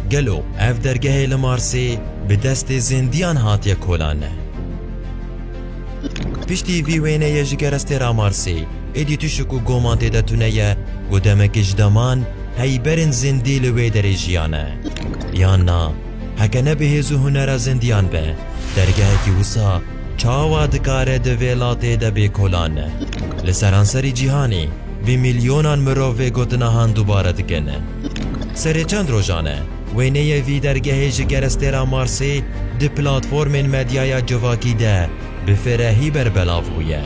Gelo ev dergehê li Marsê bi destê zêndiyan hatiye kolanne? Piştî vî wêneyê ji kerestê ra Marsê êdî tişik û goman tê de tune ye ku demekê ji deman heyberên zêndî li wê derê jiyane. Yan na, heke ne bi hêz û hunera zêndiyan be, dergehekî wisa çawa dikare di vê latê de bê kolanne? Li seranserî cîhanê, Bi milyonan mirov vê gotinahan dubare dikin. Serê çend rojan e, wêneyê vî dergehê ji kerestêra Marsê di platformên medyaya civakî de bi firehî berbelav bûye.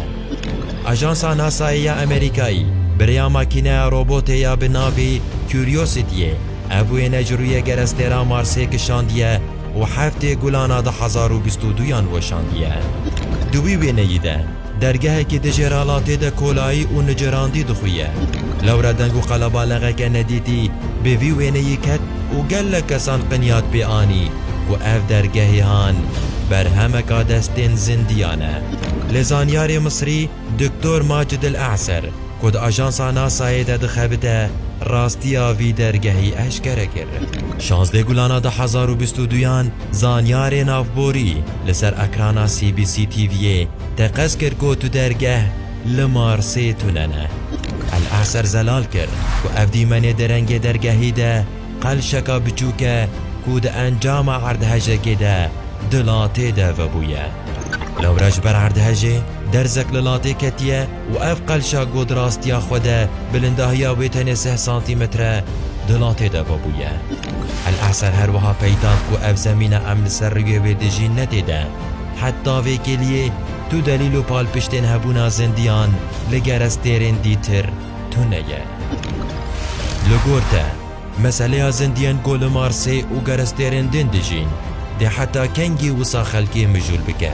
Ajansa NASA'yê ya Amerîkayî bi rêya makîneya robotê ya bi navê Curiosity-yê ev wêne ji rûyê kerestêra Marsê kişandiye û heftê gulana du hezar û bîst û duyan weşandiye. Di wî wêneyî de Dergehekî di jêralatê de kolayî û nicerandî dixuye. Lewre deng û qelebalexeke nedîtî bi vî wêneyî ket û gelek kesan qinyat pê anî ku ev dergehê han berhemeka destên zindiyan e. Lê zanyarê Misrî Doktor Macid El E'ser ku di ajansa NASA'yê de dixebite rastiya vî dergehî eşkere kir. Şazdeh gulana du hezar û bîst û duyan Zanyarê navborî li ser ekrana CBC TV'ê teqez kir ku tu dergeh li Marsê tune ne. El Eser zelal kir ku ev dîmenê di rengê dergehî de qelşeka biçûk e ku di encama erdhejekê de di latê de vebûye. Lewre ji ber erdhejê derzek li latê ketiye û ev qelşak got rastiya xwe de bilindahiya wê tenê sih santîmetre di latê de vebûye. El Eser her wiha peyda ku ev zemîna em li ser rûyê wê dijîn ne tê de. Heta vê kêliyê tu delîl û palpiştên hebûna zindiyan li gerestêrên dîtir tune ye. Li gor te, meseleya zindiyên ku li Marsê û gerestêrên din dijîn, dê heta kengî wisa xelkê mijûl bike?